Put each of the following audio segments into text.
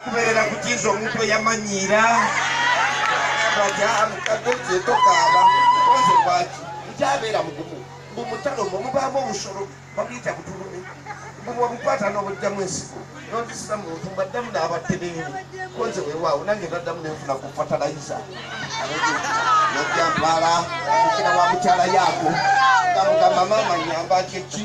kuberera kukiza omuntu eyamanyiira baja amukadde kyetokaaba oze lwaki nkyabeera mugumu mbu mutalo mwe mubaamu obusolo bamuyita butulume mbu bwebukwata n'obujjamu ensigo nondisira muntu mbaddamu n'abatereere konze wewaawo nange naddamu nenfuna ku fatalayiza najjampala mukira wa mukyala yaako ngamugamba maama nyamba kyeki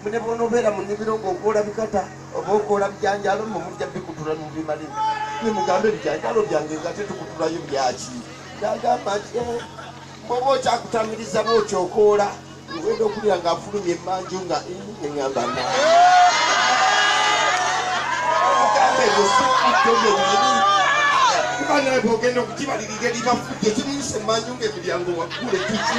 Mbu ne bw'onobeera mu nnimiro ng'okoola bikata oba okoola bijanjaalo mmwe mujja bikutula ne mubimalira. Mmwe mugamba ebijanjaalo byange ng'ate tukutulayo byaki? N'agamba nti, Ee, bw'oba okyakutamiriza bw'otyo okoola ng'ogenda okuwulira ng'afulumya emmanju nga ii ne ŋŋamba naa. Mugamba ebyo si ffujjo byennyini. Kuba nawe bw'ogenda okugibalirira eriba ffujjo, kimuyisa emmanju ng'emiryango waggule kiki?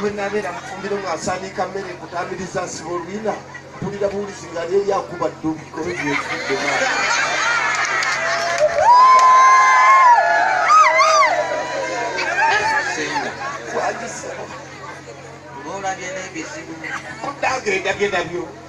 bwenabeera mufumbiro ng'asaaniika mmere kutambiriza nsiba olwina mpulira buwulizi nga lyeri akuba ddubi kobe byekidde olabye n'ebizibu kuddagenda bye nabyo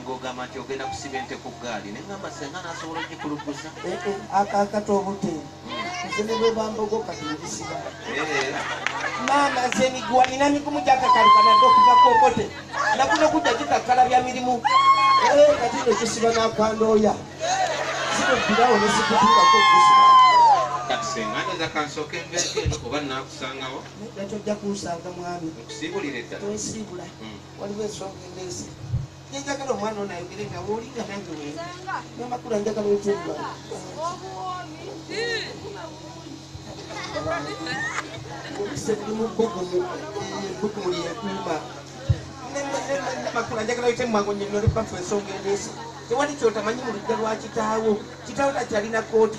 nga ogamba nti ogenda kusiba ente ku ggaali naye ngamba senga nasobola ogikuluggusa eh, eh, akakata obute hmm. nze ne bwebambogo kati negisiba eh. maama nze miguwa nina migumu gyakakalikanadde okuva kokote nakuno kujja gikakkala bya mirimu kati nekisiba nakwandooya zinobbirawo nesikutuulako okusiba kati senga ndoza kansooka embeeko eno oba nakusangawo nakyojja kunsanga mwami okusiibulira eddala twesiibula hmm. waliwo ensonga endeese nenjagala omwana ono ayogere nga woli nga nange we namakula njagala otuula obise buli mu bbugumu ebbugumu lyekuuma namakula njagala oyite mwangu nyinole bafu ensonga endeese tewali kyotamanyi mu lujja lwa kitaawo kitaawo takyalina kooti